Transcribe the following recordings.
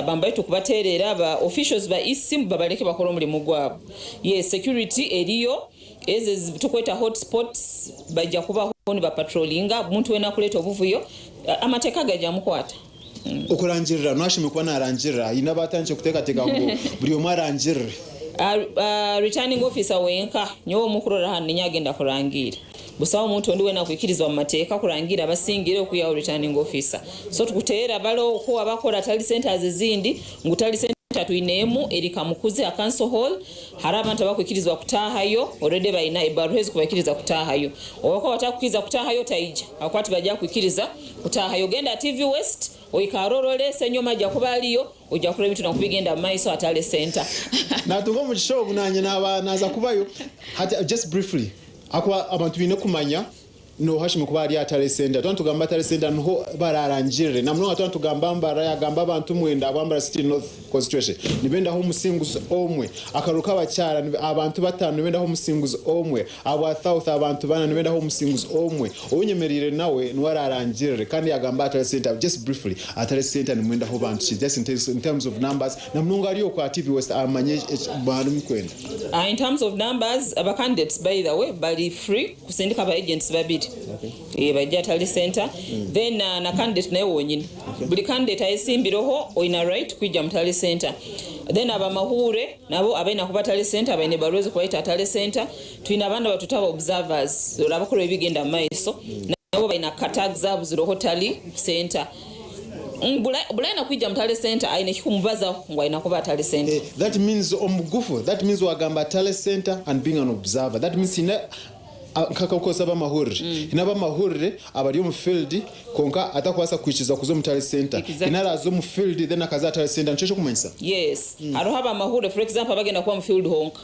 Abantu baitu kubatereera ba officials ba EAC ngu babaleke bakore omurimo gwabo. Yes security eriyo, ezo ezitukweta hot spots baija kubaho niba patrollinga omuntu weena arikureeta obuvuyo amateeka gaija mukwata. Okurangirira, N'oha ashemereire kuba naarangirira? Haine abu atandikire kuteekateeka ngu buri omwe arangirire. Returning officer wenka, nyowe owu murikurora hanu ninye agenda kurangiira. Busaho omuntu ondi wena kwikirizibwa mu mateka kurangira abasingire oku yawe returning officer. So tukutera balo oku waba akora tari sente aza ezindi ngu tari sente atwinemu eri Kamukuzi ha council hall hariho abantu abakwikirizibwa kutahayo already bayina ebaruha ezikubakiriza kutahayo. Owakuba batakukiriza kutahayo taija habwokuba tibaja kukwikiriza kutahayo. Genda TV west oikare orore senyoma aja kuba ariyo. Oija kureba ebituura nkubigenda mumaiso hatari center. Natunga omugisha ogu nanye naba naza kubayo hati just briefly ahakuba abantu baine kumanya noho hashemerwe kuba hari hatare center tuba nitugamba hatare center niho bararangirire namunonga tuba nitugamba ngu baragamba abantu mwenda abu ambara city north constituency nibendaho omusinguzi omwe akaruru kabakyara abantu batano nibendaho omusinguzi omwe. Ahabwa South abantu bana nibenda aho omusinguzi omwe ou nyemereire nawe niwe ararangirire kandi yagamba atare center just briefly atare center nimwenda aho bantu ki just in terms of numbers na munonga ari oku aha TV west amanye eki mwari mukwenda. In terms of numbers aba candidates by the way bari free kusindika aba agents babiri baije atare center then na candidate nawe wonyine buri candidate ayesimbireho oyine right kwija mutare center then abamahuure. Nabo abaine ahu batare senta baine ebaruwa ezikubayeta atare senta twine abandi abatweta ba observers oraba kureba ebigenda mumaiso nabo baine aka tags abuzireho tally senta buri ayina kwija mutare senta ayine ekikumubazaho ngu ayina kuba atare senta. That means omubugufu that means wagamba tally senta and being an observer that means tine Nk'akakukoresa ab'amahurire. Haine ab'amahurire abari omu field kwonka atakubaasa kuhikiiriza kuza omu Tally Centre. Exactly. Haine araaza omu field then akaza aha Tally Centre. Nikyo ekirikumanyisa? Yes. Hariho ab'amahurire for example abagenda kuba omu field honka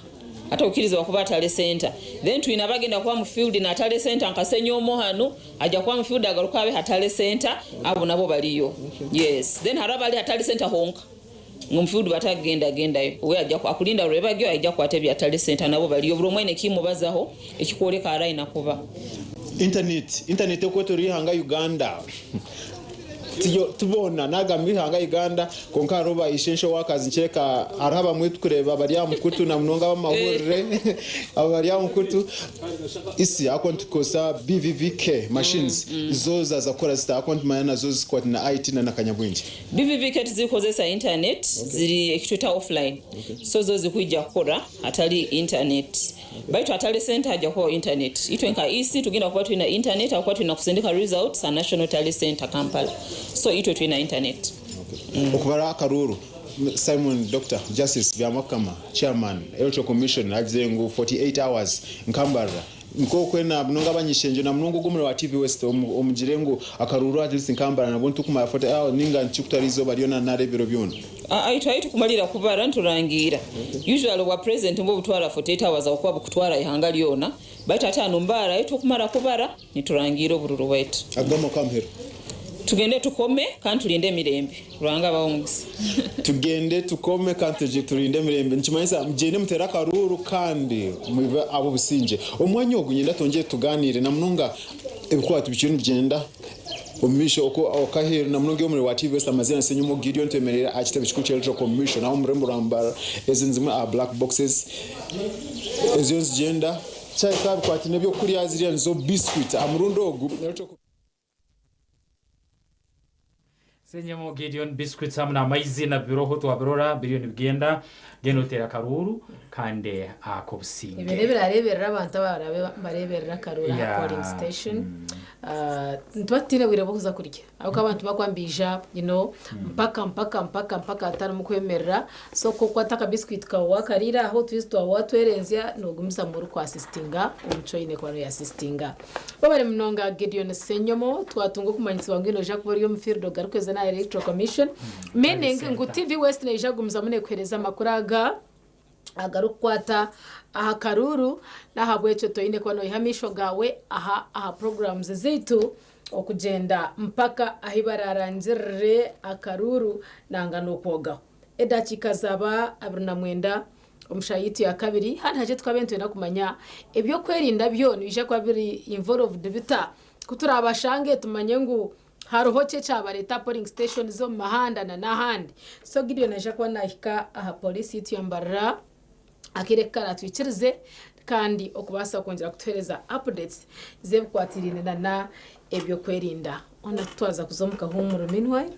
atakukirizibwa kuba aha Tally Centre. Then twine abagenda kuba omu field na Tally Centre nka Senyomo hanu agya kuba omu field agaruke abe ha Tally Centre. Abo nabo bariyo. Yes. Then hariho abari ha Tally Centre honka. Ngu omufiudu batakugenda gendayo we aja akurinda rwebagyo aija akwata ebyatali sente nabo bariyo buri omwe aine ekimubazaho ekikworeka ahari ayina kuba. Internet internet okwetoroire ihanga Uganda tibona nagamba ihanga Uganda kwonka hariho ba essential workers nikireka hariho abamwe tukureba abari aha mukutu na munonga abamahurire abo bari aha mukutu isi ahakuba nitukozesa BVVK machines zo zaza kukora zita ahakuba nitumanya nazo zikwatine na IT na nakanyabwengye. BVVK tizirikozesa internet ziri ekitweta offline so zo zirikuhija kukora hatari internet baitu hatari sente hajya kubaho internet itwe nka EC tugenda kuba twine internet habwokuba twine kusindika results ha National Tally Centre Kampala so itwe twine internet. Okubara akaruuru Simon Doctor Justice Byamwakukama Chairman Electoral Commission agize ngu 48 hours nkambarira Nk'okwe na munonga abany'ishengyero na munonga ogwo omurimo wa TV West omu omugire ngu akaruuru at least nkambara nabwo nitukumara 40 hours ninga niki kutwara eizooba ryona nari ebiro byona. Aa itwe ahi tukumalira kubara niturangiira usually obwa president nibwo butwara 48 hours ahakuba bukutwara ihanga ryona baitu hati hanu mbaara ahi turukumara kubara niturangiira oburuuru bwaitu Agwo amakwo amuheru. tugende tukome kandi tulinde emirembe. Ruhanga abahe omugisa. Tugende tukome kandi turye turinde emirembe nikimanyisa mugyende muteere akaruuru kandi mube ab'obusingye. Omwanya ogu niinyenda twongyere tugaaniire na munonga ebikwate bikiriyo nibigyenda omu maisho oku aheeru na munonga omurimo gwa TVS. Amazina ni Ssenyomo Gideon twemereire aha kitebe kikuru ky'Eldoret omu maisho naho omu rurembo rwa Mbarara. Ezi nizimwe aha black boxes eziriyo nizigyenda. Kyahika aha bikwate n'eby'okurya ziriya nizo biscuit aha murundi ogu. Senyemo Gedeon biscuits hamu n'amaizi nabibiroho twabirora biriyo nibigenda then oteera akaruuru kandi ak'obusinge. Ebyo n'ebirareeberera abantu abaraabe nibareeberera akaruuru aha polling station. Nituba tutaine bwire bw'okuza kurya ahabw'okuba abantu bakuba nibaija you know mpaka mpaka mpaka mpaka hatarimu kwemerera so ku okukwata aka biscuit kaawe waakariira aho otwizi twaawe waatwerenzya noogumizamu orikwa assistinga omu ki oine kuba nooya assistinga. Webare munonga Gideon Senyomo, twatunga okumanyisibwa ngu noija kuba ori omu field ogarukweza n'aha Electoral Commission, meaning ngu TV West neija kugumizamu nekuhereza amakuru aga agarukukwata aha karuuru n'ahabwekyo toine kuba noyiha amaisho gaawe aha aha programs zaitu okugyenda mpaka ahi bararangirire akaruuru nanga n'okwogaho. edakiika zaba abiri na mwenda omu shaha yaitu ya kabiri hanu hakye tukabe nitwenda kumanya ebyokwerinda byo nibija kuba biri involved bita kuturabashange tumanye ngu hariho ki ekyabareta polling stations omu mahanda na nahandi so Gideon aija kuba nahika aha police yaitu ya mbarara. akaire ku karatwikirize kandi okubaasa kwongyera kutuheereza updates z'ebikwatiraine na na ebyokwerinda hoona ku twaza kuza omu kahuumuro meanwhile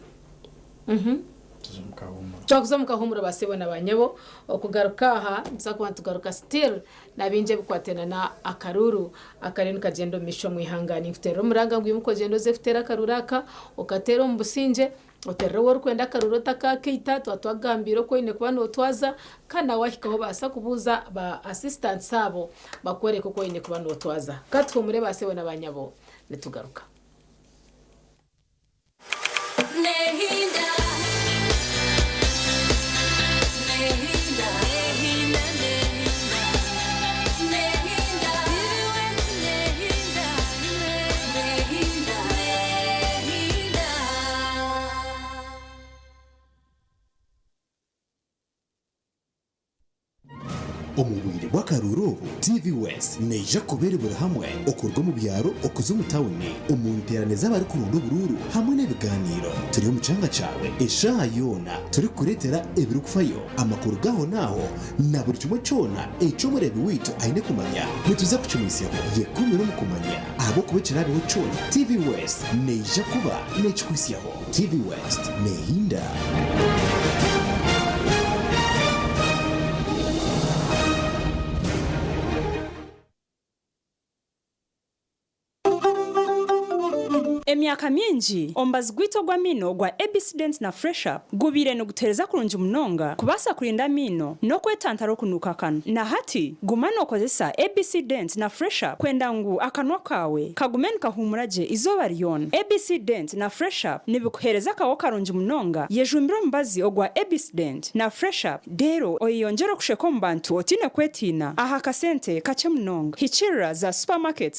mhm Tuze omu kahuumuro. twakuza omu kahuumuro ba sebo na ba nyabo okugaruka aha nituza kuba nitugaruka still na bingi ebikwatiraine na na akaruuru akariyo nikagyenda omu maisho omu ihanga. Ninkuteerera omuranga ngu imuka ogyende oze kuteera akaruuru aka okateere omu busingye. Oterere ou orikwenda akaruuru otakaakaita, tuba twakugambiire oku oine kuba nootwaza kandi nawe waahikaho obaasa kubuuza ba asisitansi abo bakworeke oku oine kuba nootwaza. Ka tuhuumure baasebo na baanyabo, nitugaruka. Omu bwire bw'akaruuru obu, TV West neija kuba eri buri hamwe, okuruga omu byaro okuza omu tauni, omu nteerane z'abarikuronda oburuuru hamwe n'ebigaaniiro. Turi omu kyanga kyawe eshaaha yoona, turikukureetera ebirikufayo, amakuru g'ahonaaho, na buri kimwe kyona eki Omureebi waitu aine kumanya, nituza kukimwitsyaho yeekomire omu kumanya. Ahabw'okuba ekiraabeho kyona, TV West neija kuba neekikuhitsyaho. TV West neehinda. Emyaka mingi, omubazi gwaitu ogw'amaino ogwa ABC Pepsodent na Fresh Up gubaire nigutuheereza kurungi munonga kubaasa kurinda amaino n'okwetantara okunuuka akanwa. Na hati, guma nookozesa ABC Dent na Fresh Up kwenda ngu akanwa kaawe kagume nikahuumura gye eizooba ryona. ABC Dent na Fresh Up nibikuheereza akawa karungi munonga. Yejumbire omubazi ogwa ABC Dent na Fresh Up reero oyeyongyere okusheka omu bantu otaine kwetiina aha kasente kakye munonga. Hikiirira za supamaketi.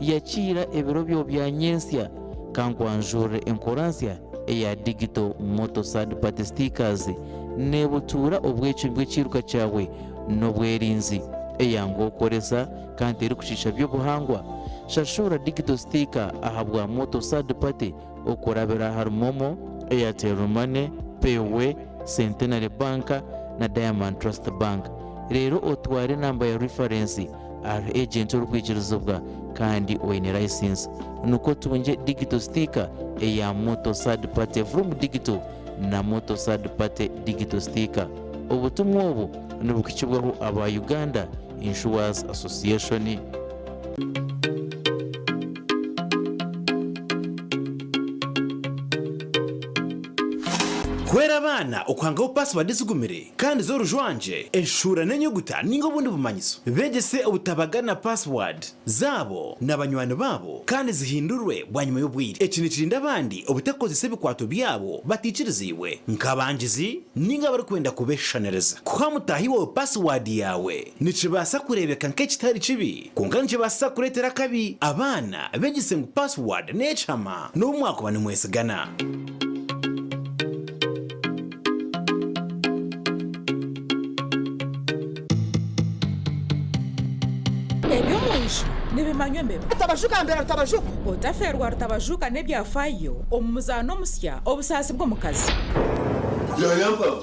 Yakiira ebiro byo bya nyentsya ka nkwanjurire enkoransya eya Digital Motor Third Party Stickers nebutuura obwecwi bw'ekiiruka kyawe n'obwerinzi. Eyangu okukoresa kandi terikukiisha by'obuhangwa. Shashura Digital Sticker aha bwa Motor Third Party okurabira ahari Momo, Airtel Money, Payway, Centenary Bank na Diamond Trust Bank. Reero otware enamba ya rifarensi ahari ejenti orikwikirizibwa kandi oine layisinsi nikwo otungye digito sitiika eya Moto Third Party Vroom Digito na Moto Third Party Digito Sitiika. Obutumwa obu nibuhikibwaho aba Uganda Insurers Association. Kuhwera abaana okuhangaho pasiwadi ezigumire kandi z'orujwangye, enshuura n'enyuguta ninga obundi bumanyiso. Beegyese obutabagana pasiwadi zaabo na banywani baabo kandi zihindurwe bwanyima y'obwire. Eki nikirinda abandi obutakozesa ebikwato byabo bataikiriziibwe, nk'abangizi ninga abarikwenda kubeshushaniriza. Kuha mutaahi waawe pasiwadi yaawe. Nikibaasa kureebeka nk'ekitari kibi, kwonka nikibaasisa kureetera akabi. Abaana, beegyese ngu paasiwaadi n'ekihama n'obu mwakuba nimwetsigana. Eby'omu nju nibimanywa embeba. Rutabajuka ambera rutabajuka. Otafeerwa rutabajuka n'ebyafaayo omu muzaano omusya Obusaasi bw'omukazi. Byayamba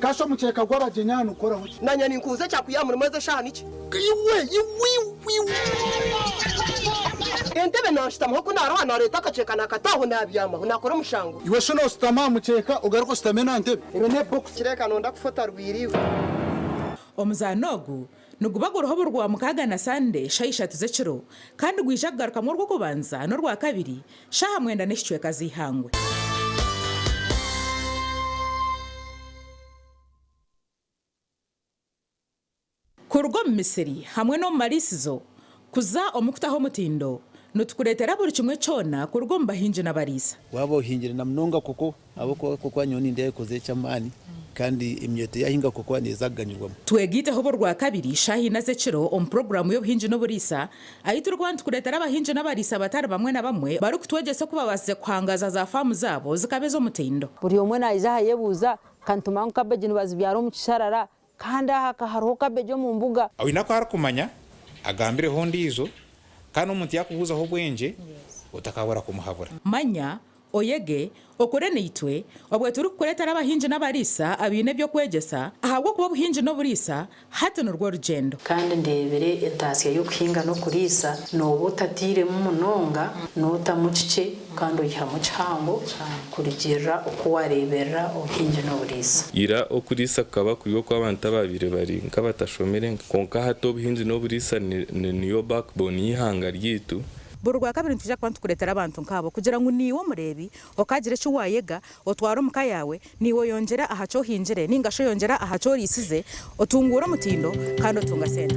Kasha omukyeka gw'abagyenyi aha nigukoraho ki? Nanye ninkubuza ekyakuyiha murimu ezi eshaha niki? Entebe nanshutamaho ku naruha nareta akakyeka nakata aho nabyamaho nakora omushango. Iwe shana oshutame aha mukyeka ogaruke oshutame na ntebe. Ero ne box. Kireka nonda kufa otarwire iwe. Omuzaano ogu Niguba guriho obu Rwamukaaga na Sande shaaha ishatu z'ekiro kandi gwija kugarukamu Orw'okubanza n'Orwakabiri shaaha mwenda n'ekicweka z'eihangwe. Kuruga omu misiri hamwe n'omu mariisizo kuza omu kutaho omutindo, nitukureetera buri kimwe kyona kuruga omu bahingi n'abariisa. Waaba ohingire na munonga koko Ahabw'okuba kokuba nyowe nindeekoza eky'amaani, kandi emyooto yaahinga kokuba neeza kuganyirwamu. Twega Eijaho Orwakabiri shaaha ina z'ekiro omu puroguraamu y'Obuhingi n'Oburiisa, ahi turikuba nitukureetera abahingi n'abariisa batari bamwe na bamwe barikutwegyesa oku baabaasize kuhangaaza za faamu zaabo zikaba ez'omutindo. Buri omwe naija aha yebuuza, Ka nitumanya ngu kabeegi nibazibyara omu kisharara, Kandi aha ka hariho kabegi omu mbuga. Oine aku arikumanya, agambireho ondiijo, kandi omuntu yaakubuuzaho obwengye, otakaabura kumuhabura. Manya, oyege, okure naitwe, obwe turikukureetera abahingi n'abariisa abaine eby'okwegyesa, ahabw'okuba obuhingi n'oburiisa hati nirwo rugyendo. Kandi ndeebire entaasya y'okuhinga n'okuriisa, nooba otatairemu munonga, nootamu kikye, Kandi oyihamu kihango kurigirira oku wareeberera obuhingi n'oburiisa. Ira okuriisa kukaba kuri okw'abantu abaabaire bari nk'abatashomire, kwonka hati obuhingi n'oburiisa niyo backbone y'eihanga ryaitu. Buri Rwakabiri nitwija kuba nitukureetera abantu nk'abo kugira ngu naiwe omureebi okaagira eki waayega, otware omu ka yaawe, naiwe oyongyere aha ki ohingire nainga shi oyongyere aha ki oriisize, otunguure omutindo kandi otunga sente.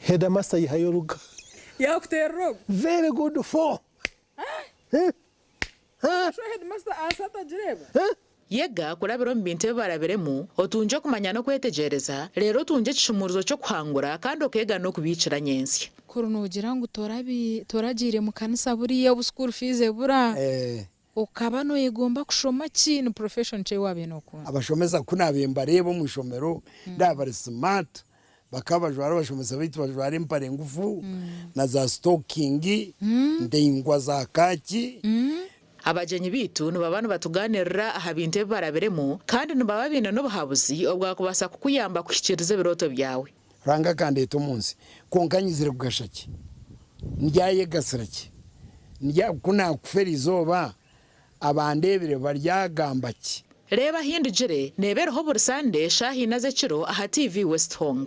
Headmaster yihayo oruga. Yakuterera ogu. Very good four. Noshusha headmaster ahansi atagireeba. Yega kurabira omu bintu ebi barabiremu, otungye okumanya n'okwetegyereza, reero otungye ekishumuurizo ky'okuhangura kandi okeega n'okubiikira nyentsya. Kuri nogira ngu toragiire mukanisa buriya obu school fees ebura Okaba noyegomba kushoma ki? Ni profession ki ei waabaire nookunda? Abashomesa ku naabaire mbareeba omu ishomero ndaba bari smart. Bakaba bajwara abashomesa baitu bajwara empare ngufu na za sitokingi ndaingwa za kaaki. Abagyenyi baitu nibaba nibatugaanirira aha bintu ebi barabiremu kandi nibaba baine n'obuhabuzi obwakubaasa kukuyamba kuhikiiriza ebirooto byawe. Ruhanga akandeeta omu nsi, kwonka nyizire kugasha ki? Ndyayegasira ki? Ndya, ku naakufa eri izooba, abandeebire baryagamba ki? Reeba ahi ndugire, neeba eriho buri Sande eshaaha ina z'ekiro aha TV West Hong.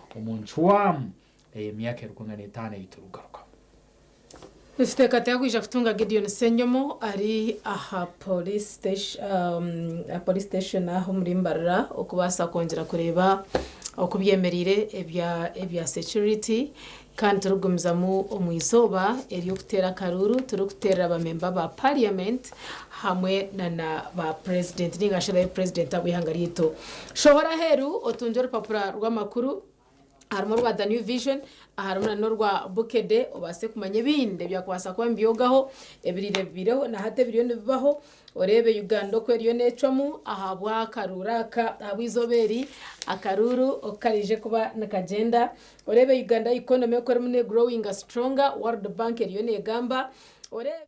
omu ncwamu ey'emyaka erikungana n'etaano ei turikugarukamu. Nikiteekateeka kwija kutunga Gideon Ssenyomo ari aha Police Station aho omuri Mbarara okubaasa kwongyera kureeba oku byemereire ebya security kandi turikugumizamu omu izooba ery'okuteera akaruuru turikuteerera bamemba ba Parliament hamwe na na ba Purezidenti ninga shi Purezidenti ab'eihanga ryaitu. Shohora aheeru otungye orupapura rw'amakuru harimu orwa The New Vision, harimu na n'orwa Bukedde obaase kumanya ebindi ebyakubaasa kuba nibyogaho ebiriire bibaireho na hati ebiriyo nibibaho, oreebe Uganda oku eriyo neecwamu ahabw'akaruuru aka, ahabw'eizooba eri akaruuru oku kariije kuba nikagyenda, oreebe Uganda economy oku erimu nee'growinga stronger, World Bank eriyo neegamba, oreebe.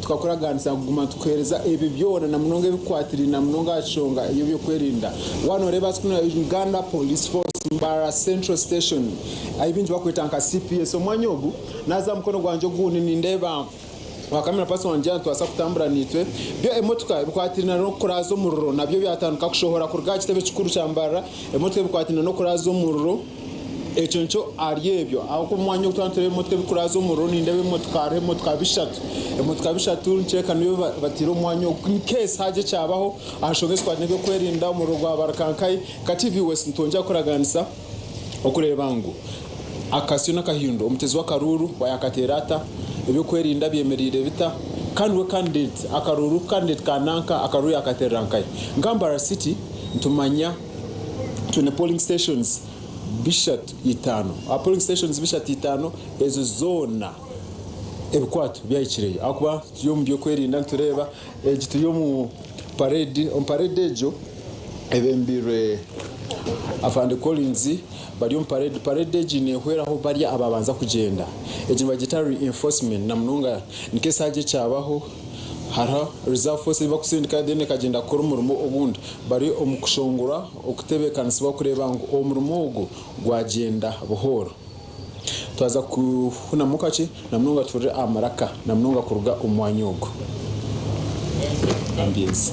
Tukakuragaanisa kuguma tukuheereza ebi byona na munonga ebikukwatiraine na munonga aha kishonga ey'ebyokwerinda. Waaba nooreeba hati kunu ahari Uganda Police Force, Mbarara Central Station, ahi baingi bakweta nka cps, omwanya ogu naaza aha mukono gwangye ogundi nindeeba Wakamira Pastor wangye yaatubaasa kutambura naitwe. Byo emotoka ebikwatiraine na n'okuraaza omuriro nabyo byatandika kushohora kuruga aha kitebe kikuru kya Mbarara, emotoka ebikwatiraine na n'okuraaza omuriro. Ekyo nikyo ahari ebyo ahabw'okuba omwanya ogu twaanitwireho emotoka ebirikuraaza omuriro nindeeba emotoka hariho emotoka bishatu emotoka bishatu nikyoreka niyo bataire omwanya ogu in case haagye ekyabaho aha nshonga ezikwaatine n'ebyokwerinda omuriro gwabarika nkahi nka TV West nitwongyera kukuraganisa okureeba ngu akasyo n'akahindo omutezi w'akaruuru wa yaakateera ata ebyokwerinda byemereire bita kandi we candidate akaruuru candidate ka nanka akaruuru yaakaterera nkahi nka Mbarara City nitumanya twine polling stations bishatu itaano, aha polling stations bishatu itaano ezo zoona ebikwaato byahikireyo ahakuba turi omu byokwerinda nitureeba egi turi omu parade, omu parade egyo ebembirwe afande Collins bari omu parade, parade egi nehweraho bari ababanza kugyenda, egi nibagyeta reinforcement namunonga nikyo esaaha egi ekyabaho. Hariho Reserve Force ei bakusindika then ekagyenda kukora omurimo ogundi. Bari omu kushongora okutebeekanisibwa kureeba ngu omurimo ogwo gwagyenda buhooro. Twaza kufunamu kakye na munonga tuhurire amaraka na munonga kuruga omu mwanya ogwo. Ambience.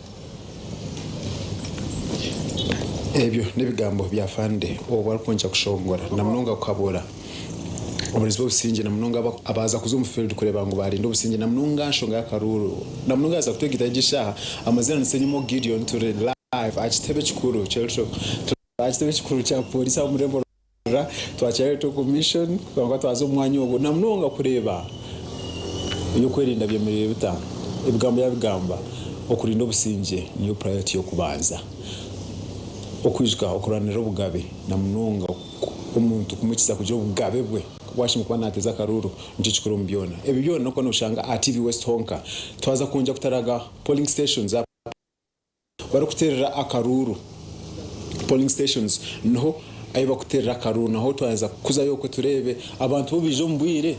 Ebyo n'ebigambo bya Fande obu arikwongyera kushongora na munonga kukabuura abarinzi b'obusingye na munonga abaaza kuza omu field kureeba ngu baarinde obusingye na munonga aha nshonga y'akaruuru na munonga yaaza kutwegaita egi shaaha. Amazina ni Ssenyimo Gideon turi live aha kitebe kikuru ky'e Lutyo. Aha kitebe kikuru kya pooriisi aha murembo rw'okuruga rwa Charity of Mission, kwonka twaza omu mwanya ogwo na munonga kureeba eby'okwerinda byemereire bita. Ebigambo yabigamba, Okurinda obusingye niyo purayoriti y'okubanza. Okwijuka okurwanirira obugabe na munonga omuntu kumuhikiisa kugira obugabe bwe ku waashemeriire kuba naateeza akaruuru nikyo kikuru omu byona. Ebi byona n'okuba nooshanga aha TV West honka. Twaza kwongyera kutaraga polling stations. Barikuteerera akaruuru, polling stations, niho ahi barikuteerera akaruuru naho twaza kuzayo okwe tureebe abantu bo baije omu bwire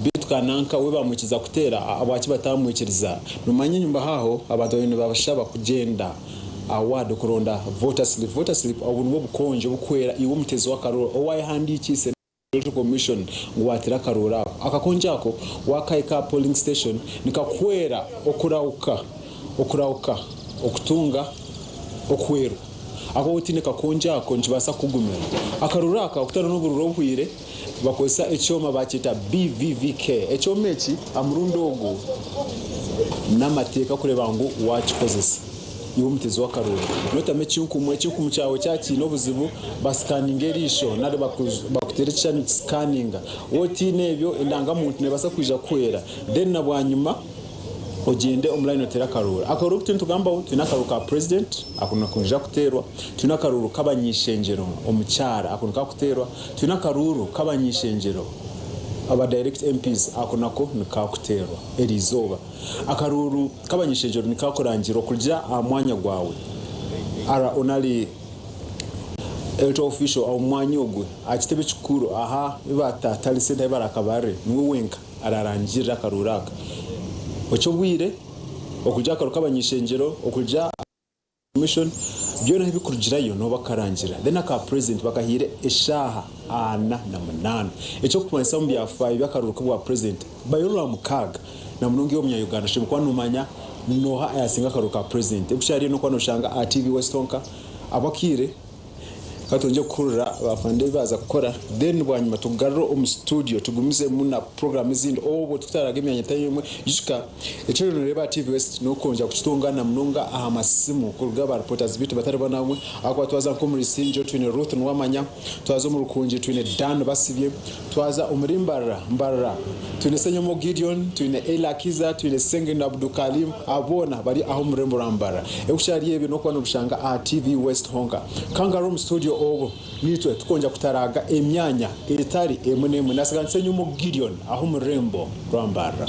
beitu ka nanka we bamwikiriza kuteera ahabwaki bataamwikiriza. Nomanya enyumaho aho abantu baabaire nibabashaba kugyenda aha ward okuronda voter slip. Voter slip obwo nibwo bukonje oburikwera iwe omuteezi w'akaruuru owayehandiikiise. Electoral Commission ngu waatire akarooro ako. Akakongi ako waakahika aha polling station nikakuhwera okurahuka okurahuka okutunga okuhwerwa. Ahakuba waaba otaine kakongi ako nikibaasa kukugumira. Akarooro aka okutariho n'oburooro obuhwire bakozesa ekyoma baakyeta BVVK. Ekyoma eki aha murundi ogu n'amateeka kureeba ngu waakikozesa. Iwe omutezi w'akaruuru, nootamu ekinkumu, ekinkumu kyawe kyaba kiine obuzibu, basikaninga eriisho nari bakuteere ekishushani kisikaninga. Waaba otaine ebyo, endangamuntu neebaasa kwija kukuhwera. Then na bwanyima ogyende omu layini oteere akaruuru. Akaruuru aku turiyo nitugambaho, twine akaruuru ka purezidenti, ako niko niija kuteerwa. Twine akaruuru k'abanyaishengyero, omukyara, ako niko karikuteerwa. Twine akaruuru k'abanyaishengyero, aba dayirekiti, MPs, ako nako niko karikuteerwa eriizooba. Akaruuru k'abanyeshegyero nikaakurangira okurugira aha mwanya gwawe. Ara onali Electoral Official omu mwanya ogwo aha kitebe ekikuru aha bi baatatari sente ahi baraakabarire, niwe wenka araarangirira akaruuru aka. Oca obwire okurugira aha karuuru k'abanyeshengyero okurugira. Commission byona ahu bikurugirayo niho bakarangira then aka president bakahaire eshaaha ana na munaana ekyokumanyisa omu byafaayo byakaruru kobwa president bayo orwamukaaga na munonga iwe omunya Uganda oshemereire kuba nomanya noha ayasinga akaruru ka president ebikyariyo nokuba noshanga aha TV west honka abu akaire Ka twegye kuhurira baafande ebi baaza kukora then bwanyima tugarure omu situdiyo tugumizemu na puroguraamu ezindi obwo tutaaraga emyanya etari emwe. Ijuka, eki oriyo nooreeba aha TV West n'okwongyera kukitunga na munonga aha masimu kuruga aha baaripootazi baitu batari bamwe na bamwe ahakuba twaza nk'omuri Isingye twine Ruth Nuwamanya, twaza omu Rukungiri twine Dan Basibye, Twaza omuri Mbarara, Mbarara, twine Senyomo Gideon, twine Eli Akiza, twine Sengendo Abdu Kalim, abo boona bari aha omu rurembo rwa Mbarara. Ebikukyari ebyo n'okuba nobishanga aha TV West honka. Ka ngarure omu studio obu n'itwe tukongya kutaraaga emyanya etari emwe n'emwe. Naasiga ndi Senyomo Gideon aha omu rurembo rwa Mbarara.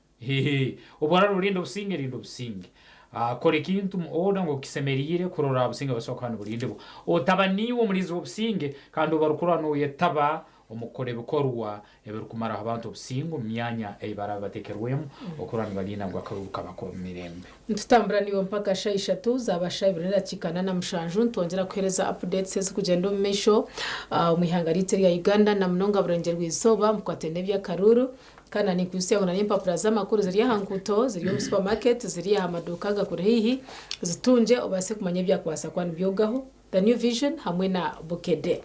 Hehe. Obu oraabe orinda obusinge, rinda obusinge. Kora ekintu mu order nk'oku kisemeriire kurora oraabe obusinge nibubaasa kuba niburindibwa. Otaba niiwe omurinzi w'obusinge kandi obu barikurola nooyetaba omu kukora ebikorwa ebirikumaraho abantu obusinge omu myanya ei baraabe bateekerwemu, okurora nibariinda ngu akaruru kabako omu mirembe. Nitutambura naiwe mpaka shaaha ishatu zaaba shaaha ibiri n'edakiika ana na mushanju nitwongyera kukuheereza updates ezirikugyenda omu maisho omu ihanga ryaitu erya Uganda na munonga burengye rwa izooba. Mukwate n'eby'akaruuru. Kana nikwitsya ngu n'empapura z'amakuru ziri aha nguuto, ziri omu supamaketi, ziri aha maduuka agakuri haihi? Zitungye obaase kumanya ebyakubaasa kuba nibyogaho. The New Vision hamwe na Bukedde.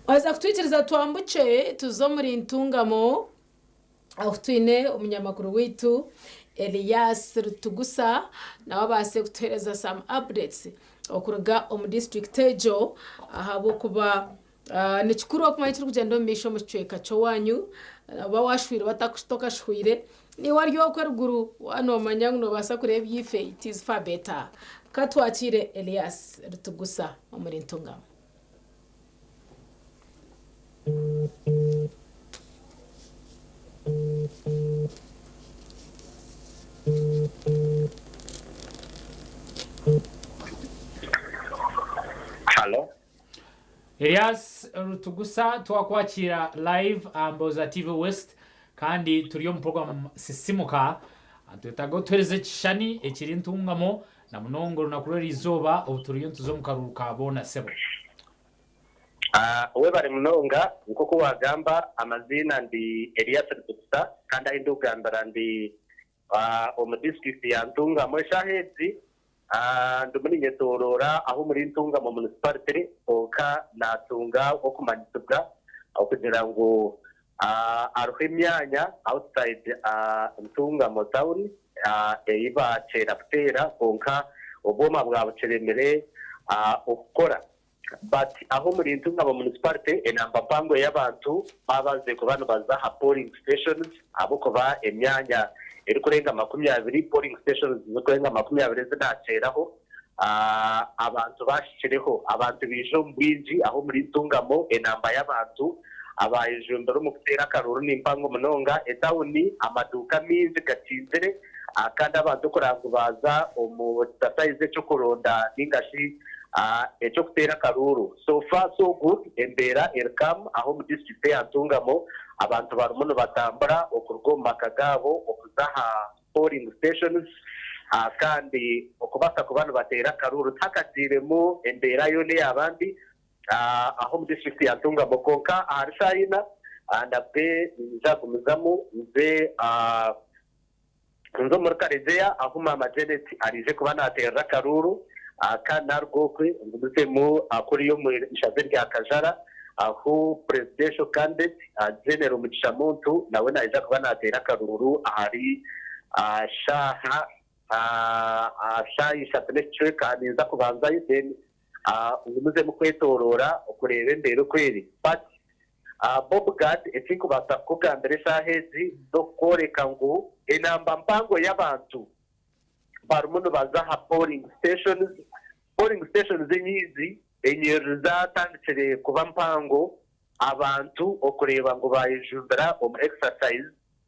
Waaza kutwikiriza twambukye tuze omuri Ntungamo ahu twine omunyamakuru waitu Elias Rutugusa nawe abaase kutuheereza some updates okuruga omu disiturikiti egyo ahabw'okuba Ni kikuru okumanya ekirikugyenda omu maisho omu kicweka ky'owaanyu. Waaba waashwirwe batakushita okashwire, niiwe ari okwo eriguru waaba noomanya ngu noobaasa kureeba ebyaife, it is far better. Ka twakire Elias Rutugusa omuri Ntungamo. Elias Rutugusa twakwakiira live aha Mbooza TV West kandi turi omu program Sisimuka nitwetaaga otuhereze ekishushani ekiri ntungamo na munonga orunaku rw'eriizooba obu turiyo nituza omu karuuru ka boona sebo. Webare munonga, nkoku wagamba amaziina ndi Elias Rutugusa kandi ahi ndi kugambira ndi omu disiturikiti ya Ntungamo. Eshaaha ezi ndimu ninyetooroora aha omuri Ntungamo munisiparite kwonka naatunga okumanyisibwa okugira ngu hariho emyanya outside Ntungamo tauni ei baakyeera kuteera kwonka obwoma bwabukiremire kukora. But aho omuri Ntunga mu municipality enamba mpango y'abantu babaze kuba nibaza aha polling stations ahabw'okuba emyanya erikurenga makumi abiri, polling stations zirikurenga makumi abiri ezi nateeraho abantu bahikireho. Abantu baija omu bwingi aho omuri Ntungamo enamba y'abantu abayejumbire omu kuteera akaruuru ni mpango munonga. Etawuni amaduuka maingi gakingire kandi abantu kuraabagu baaza omu exercise eky'okuronda ninga shi Eky'okuteera akaruuru So far so good embeera eri calm aha omu district eya Ntungamo abantu barimu nibatambura okuruga omu maka gaabo okuza aha polling stations kandi okubaasa kuba nibateera akaruuru tihakagiiremu embeera yoona eyaaba mbi aha omu district ya Ntungamo kwonka ahari shaaha ina nabwe ninyija kugumizamu nze Nze omuri Karegeya ahu maama Janet araije kuba naateerera akaruuru aka naruga okwe ngumizeemu kuriya omu ishaza erya Kajara ahu Presidential Candidate General Mugisha Muntu nawe naija kuba naateera akaruuru ahari shaaha ishatu n'ekicweka ninza kubanzayo then ngu muze mukwetoroora okureeba embeera oku eri. Pat, Bob Gadd, eki nkubaasa kukugambira eshaaha egi n'okukworeka ngu enamba mpango y'abantu barimu nibaza aha polling stations. Polling stations enyingi enyiriri zaatandikire kuba mpango abantu okureeba ngu baayejumbira omu exercise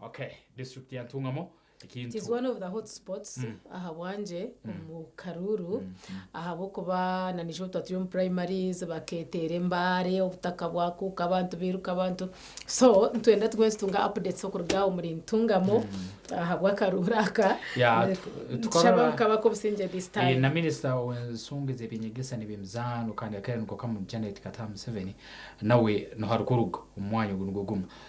Okay, district ya Ntungamo ekintu. It is one of the hot spots mm. ahabwangye mm. omu karuuru mm. ahabw'okuba na nijo tuba turi omu primaries baketeera embaare obutaka bwakuuka abantu biruka abantu so ntwenda tumwe tutunga updates okuruga omuri ntungamo mm. ahabw'akaruuru aka tushaba nkaba k'obusingye this time eh, na minisita w'ensonga ez'eby'enyegesa n'eby'emizaano kandi akaire niko kamu janet kataha museveni nawe niho arikuruga omu mwanya ogu nigwo gumu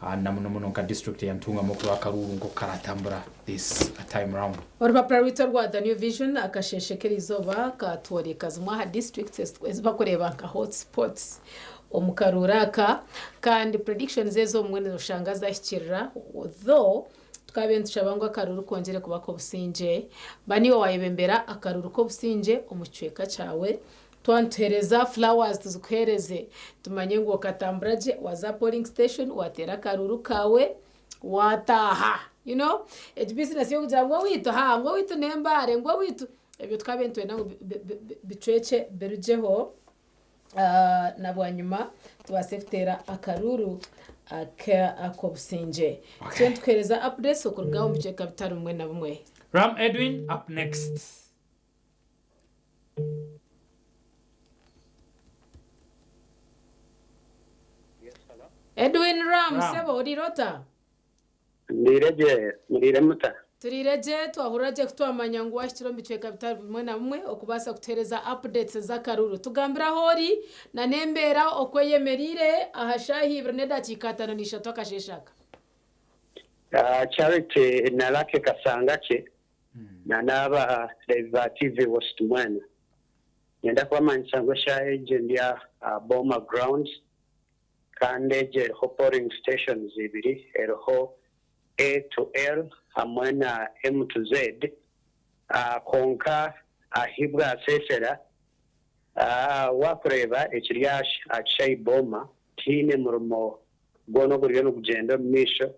and na muno muno nka district eyantungamu okuraba akaruuru nkoku karatambura this a time round. Orupapura rwaitu orwa The New Vision akasheeshe k'eri izooba katworeka zimwe aha districts ezi bakureeba nka hot spots omu karuuru aka kandi predictions ezo obumwe noshanga zahikirira though tukaabaire nitushaba ngu akaruuru kongyere kuba k'obusingye. Ba niiwe waayebembera akaruuru k'obusingye omu kicweka kyawe Twaba nituheereza flowers tuzikuheereze tumanye ngu okatambura gye waza polling station wateera akaruuru kaawe wataaha you know egi business y'okugira ngu owaitu haa ngu owaitu ne mbaare ngu owaitu ebyo tukabaire nitwenda ngu bicwekye birugyeho na bwanyima tubaase kuteera akaruuru ak'obusingye tugyende tukuheereza updates okuruga omu bicweka bitari bimwe na bimwe. Ram Edwin up next. Edwin Ram, Ram. sebo orire ota? Ndire gye, murire muta? Turire gye, twahurira gye kutwamanya ngu wahikire omu bicweka bitari bimwe na bimwe okubaasa kutuhereza updates z'akaruru. Tugambire ahu ori na n'embeera oku eyemereire aha shaaha ibiri n'edakiika ataano na ishatu akasheeshe aka. Ah, Charity na Lucky Kasangakye. na n'aba Levi ba TV West mwena. Niinyenda kubamanyisa ngu eshaaha egi ndi aha Boma Grounds kandi egi eriho polling stations ibiri, eriho A to L hamwe na M to Z. Kwonka ahi bwaseesera, waakureeba ekiri aha kishaayi Boma, tihaine murimo gwona oguriyo nigugyenda omu maisho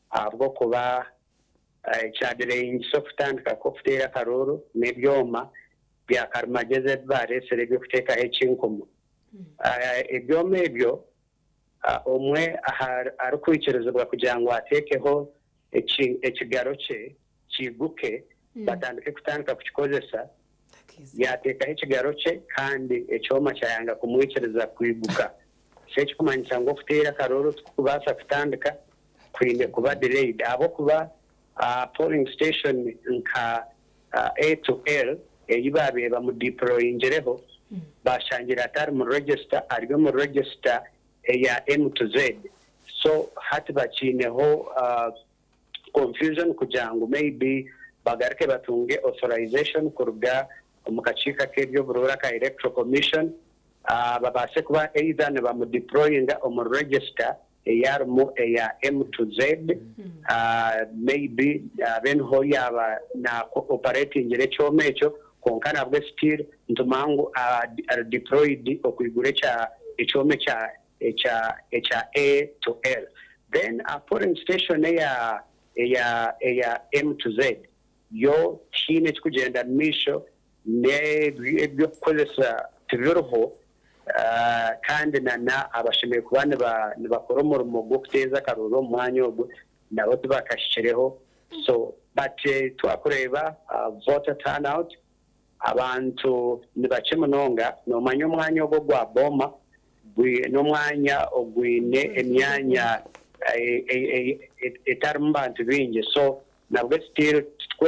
ahabw'okuba Ekyadirehingisa okutandika kw'okuteera akarooro n'ebyoma bya karimagyezi ebi baareetsire eby'okuteekaho ekinkumu. Ebyoma ebyo omwe arikwikirizibwa kugira ngu ateekeho ekigaro kye kiiguke, batandike kutandika kukikozesa yaateekaho ekigaro kye kandi ekyoma kyayanga kumwikiriza kwiguka. Shi ekikumanyisa ngu okuteera akarooro tikukubasa kutandika, kwine kuba delayed ahabw'okuba polling station nka A to L eyi baabaire bamudeployingireho baashangire atari mu register ari omu register eya M to Z so hati bakyineho. confusion kugira ngu may be bagaruke batunge authorization kuruga omu kakiiko ak'eby'oburuura aka Electoral Commission babaase kuba either nibamu deployinga omuri register ei arimu eya M to Z may be abe niho yaaba na operatingire ekyoma ekyo kwonka nabwe still nitumanya ngu ari deployed okwigura ekyoma ekya ekya ekya A to L. Then aha polling station eya eya eya M to Z yo tihaine ekikugyenda mumaisho n'ebi eby'okukozesa tibiriho kandi na na abashemereire kuba niba nibakora omurimo gw'okuteeza akaroori omu mwanya ogwo nabo tibakahikireho so but twakureeba voter turn out Abantu ni bakye munonga. Noomanya omwanya ogwo gwa Boma gwi n'omwanya ogwine emyanya etarimu bantu baingi so nabwo still titukwe.